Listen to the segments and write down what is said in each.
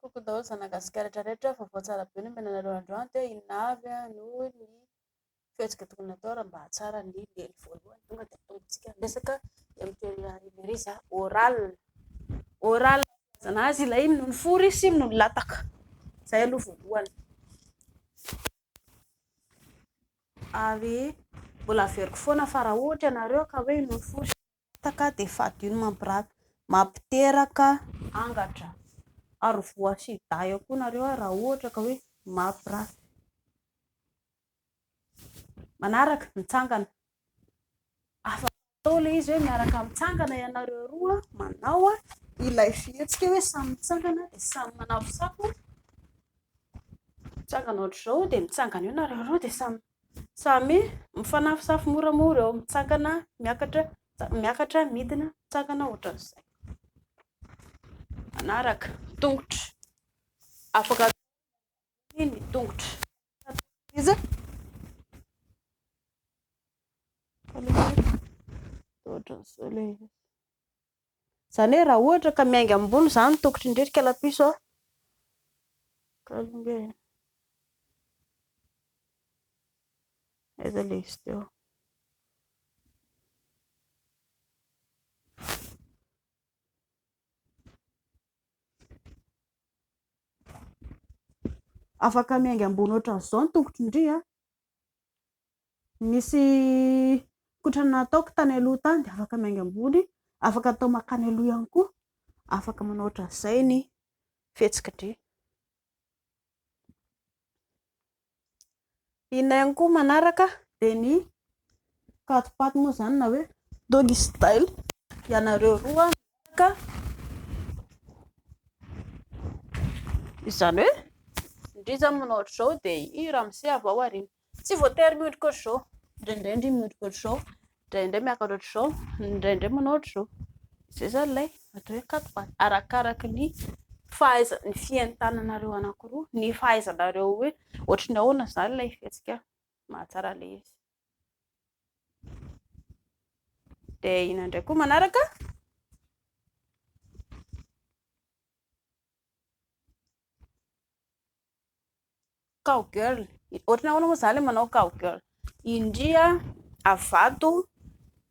Coucou daholo zanany Gasikara rehetra rehetra, vaovao tsara be no omena anareo androany dia inona avy no ny fihetsika tokony hatao raha mba hahatsara ny lely voalohany tonga dia atombotsika ny resaka dia miteny Emery za oral oral no ilazana azy ilay iny no ny fory sy no ny lataka izay aloha voalohany ary mbola averiko foana fa raha ohatra ianareo ka hoe iny no ny fory sy ny lataka Tapaka dia fadio ny mampirafy. Mampiteraka angatra ary voa sy dahy ao koa nareo ary raha ohatra ka hoe mampirafy. Manaraka, mitsangana. Afaka atao ilay izy hoe miaraka mitsangana ianareo roa manao ilay fihetsika hoe samy mitsangana dia samy manafosafo. Mitsangana ohatr'izao dia mitsangana eo nareo roa dia samy. Samy mifanafosafo moramora eo, mitsangana, miakatra, miakatra, midina, mitsangana ohatran'izay. Manaraka, tongotra. Afaka ny tongotra. Iza? Ohatran'izao ilay izy. Izany hoe raha ohatra ka miainga ambony izany ny tongotry ny reny kalapiso a. Aiza ilay izy teo? Afaka miainga ambony ohatran'izao ny tongotry ny rỳ a. Misy kotrana nataoko tany aloha tany dia afaka miainga ambony, afaka atao mankany aloha ihany koa, afaka manao ohatran'izay ny fihetsik'dry. Inona ihany koa manaraka dia ny patipaty moa izany na hoe doggy style, ianareo roa miaraka. Ka izany hoe indrisy zany manao ohatr'izao dia i ramose avy ao aoriana tsy voatery miondrika ohatr'izao indraindray ndry miondrika ohatr'izao indraindray miakatra ohatr'izao indraindray manao ohatr'izao izay zany ilay atao hoe quatre pattes arakaraka ny fahaiza ny fientananareo anankiroa ny fahaizanareo hoe ohatry ny ahoana izany ilay fihetsika mahatsara ilay izy dia ina indray koa manaraka cow girl ohatrany ahoana moa zany manao cow girl indria avato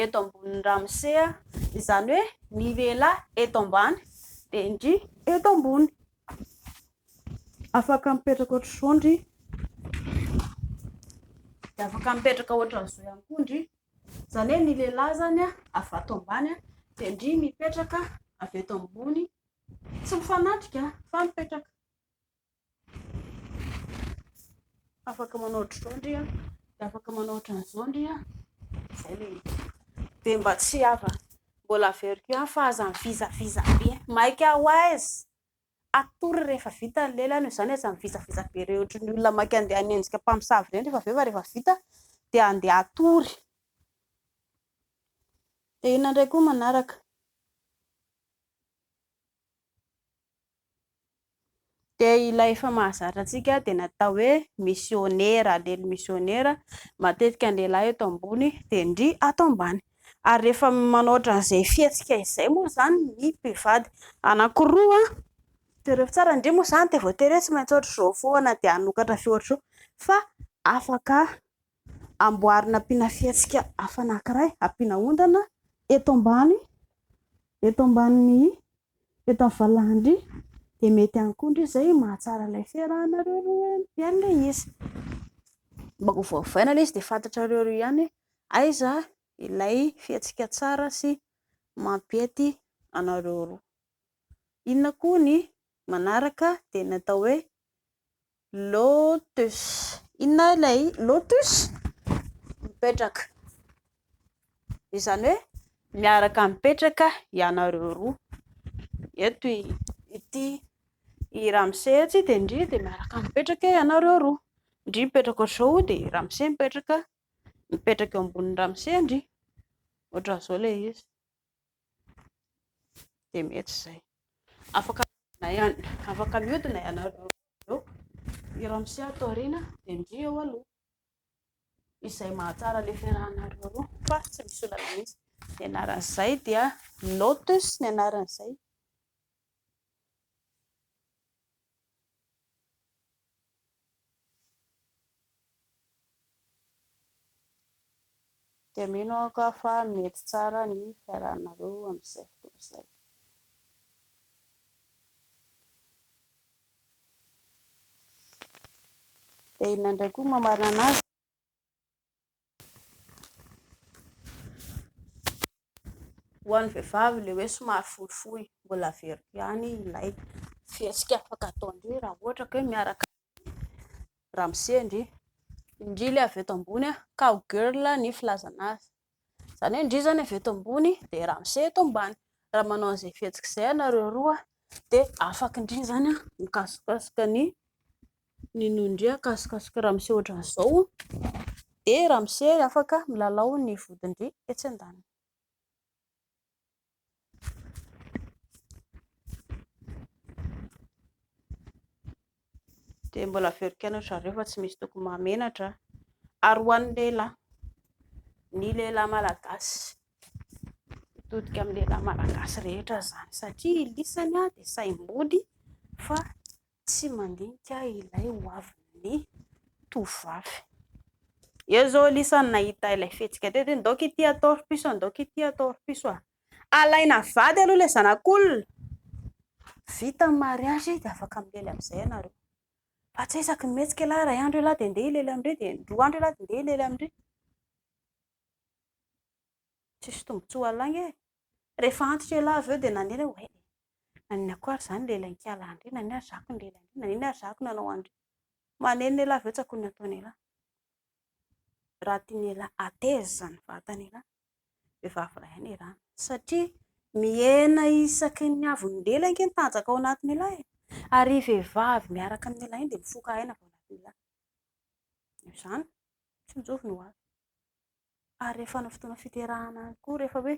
eto ambon'ny ramosea izany hoe ny lehilahy eto ambany dia indria eto ambony Afaka mipetraka ohatr'izao ndry. Dia afaka mipetraka ohatr'izao ihany koa ndry. Izany hoe ny lehilahy izany avy ato ambany dia ndry mipetraka avy eto ambony. Tsy mifanatrika fa mipetraka. Afaka manao ohatr'izao ndry an. Dia afaka manao ohatr'izao ndry an. Izay ilay izy. Dia mba tsy hava Mbola averiko ihany fa aza mivizaviza be. Maika ho aiza? Atory rehefa vita ny lelany io. Izany aza mivizaviza be ireny ohatry ny olona maika handeha hanenjika mpamosavy ireny rehefa avy eo fa rehefa vita dia handeha hatory. Dia inona indray koa manaraka? Dia ilay efa mahazatra antsika dia natao hoe misionera, lely misionera, matetika ny lehilahy eto ambony dia ndry ato ambany. Ary rehefa manoatra an'izay fihetsika izay moa izany ny mpivady anankiroa, jereo tsara ndry moa izany dia voatery hoe tsy maintsy ohatr'izao foana dia hanokatra feo ohatr'izao fa afaka amboarina ampiana fihetsika hafa anankiray, ampiana ondana eto ambany, eto ambanin'ny eto amin'ny valahany dia mety ihany koa ndry izay mahatsara ilay fiarahanareo roa ihany ilay izy. Mba ho voavaina ilay izy dia fantatrareo roa ihany hoe aiza ilay fihetsika tsara sy mampiety anareo roa. Inona koa ny manaraka dia ny atao hoe Lotus. Inona ilay lotus? Mipetraka. Izany hoe miaraka mipetraka ianareo roa. Eto i ity i Ramose ity dia ndry dia miaraka mipetraka ianareo roa. Ndry mipetraka ohatr'izao dia Ramose mipetraka mipetraka eo ambonin'i Ramose ndry. Ohatr'izao ilay izy. Dia mety izay. Afaka mihodina ihany afaka mihodina ianareo roa. Eo, i ramose ato aoriana dia ndry eo aloha izay mahatsara le fiarahanareo roa fa tsy misy olana mihitsy ny anaran'izay dia lotus ny anaran'izay Dia mino aho ka fa mety tsara ny fiarahanareo amin'izay fotoana izay. Dia inona indray koa no mamarana azy? Ho an'ny vehivavy ilay hoe somary fohifohy, mbola averiko ihany ilay fihetsika afaka ataon-dreo raha ohatra ka hoe miaraka Ramose ndry. Ndry le avy eto ambony a, cow girl ny filazana azy. Zany hoe ndry zany avy eto ambony de Ramose eto ambany. Raha manao an'izay fihetsika izay ianareo roa de afaka ndry zany a mikasokasoka ny ny noho ndry akasokasoka Ramose ohatran'izao de Ramose afaka milalao ny vodindry etsy andaniny. dia mbola averiko anareo zareo fa tsy misy tokony mahamenatra ary ho an'ny lehilahy ny lehilahy malagasy mitodika amin'ny lehilahy malagasy rehetra izany satria lisany dia saim-body fa Tsy mandinika ilay ho avin'ny tovovavy. Eo zao Lisa no nahita ilay fihetsika teo dia ndoc ity atao ripiso ndoc ity atao ripiso a. Alaina vady aloha ilay zanak'olona. Vita ny mariage dia afaka milely amin'izay ianareo. Fa tsy hoe isaky ny mihetsika ialahy iray andro ialahy dia ndeha hilely amindry dia roa andro ialahy dia ndeha hilely amindry. Tsisy tombontsoa lainga e. Rehefa antitra ialahy avy eo dia nanely aho hoe eh! Nanina koa ary izaho ny lehilahin-kialahy an-dry, nanina ary zahako ny lehilahin-dry, nanina ary zahako ny anao an-dry. Manely ny ialahy avy eo tsakoiny ny ataon'ialahy. Raha tian'ialahy hateza izany vatan'ialahy, vehivavy iray ihany iràna. Satria mihena isaky ny avy nidela ange ny tanjaka ao anatin'ialahy e! Ary iny vehivavy miaraka amin'ny ialahy iny dia mifoka aina avy ao anatin'ialahy. Noho izany, tsinjovy ny ho avy. ary rehefa ny fotoana fiterahana any koa rehefa hoe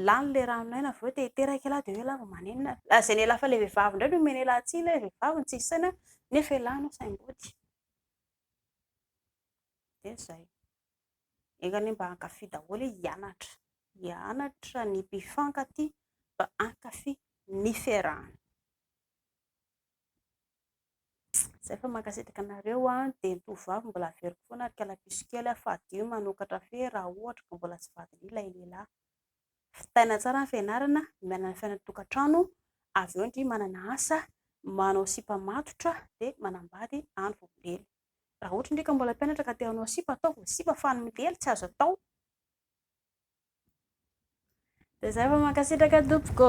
lany ilay rano aina avy eo te hiteraka ialahy dia hoe ialahy vao manenina, lazaina ialahy fa ilay vehivavy indray no omena ialahy tsiny, ilay vehivavy no tsisy saina nefa ialahy no saim-body, dia izay, enga anie mba hankafy daholo e, hianatra, hianatra ny mpifankatia mba hankafy ny fiarahana. Zay fa mankasitraka anareo a, dia ny tovovavy mbola averiko foana ry kalapiso kely a, fadiyo ny manokatra fe raha ohatra ka mbola tsy vadinao ilay lehilahy. Vitaina tsara ny fianarana, miala amin'ny fiainan-tokantrano, avy eo ndry manana asa, manao sipa matotra dia manambady any vao milely. Raha ohatra ndry ka mbola mpianatra ka te hanao sipa, ataovy ny sipa fa ny milely tsy azo atao. Dia zay fa mankasitraka tompoko.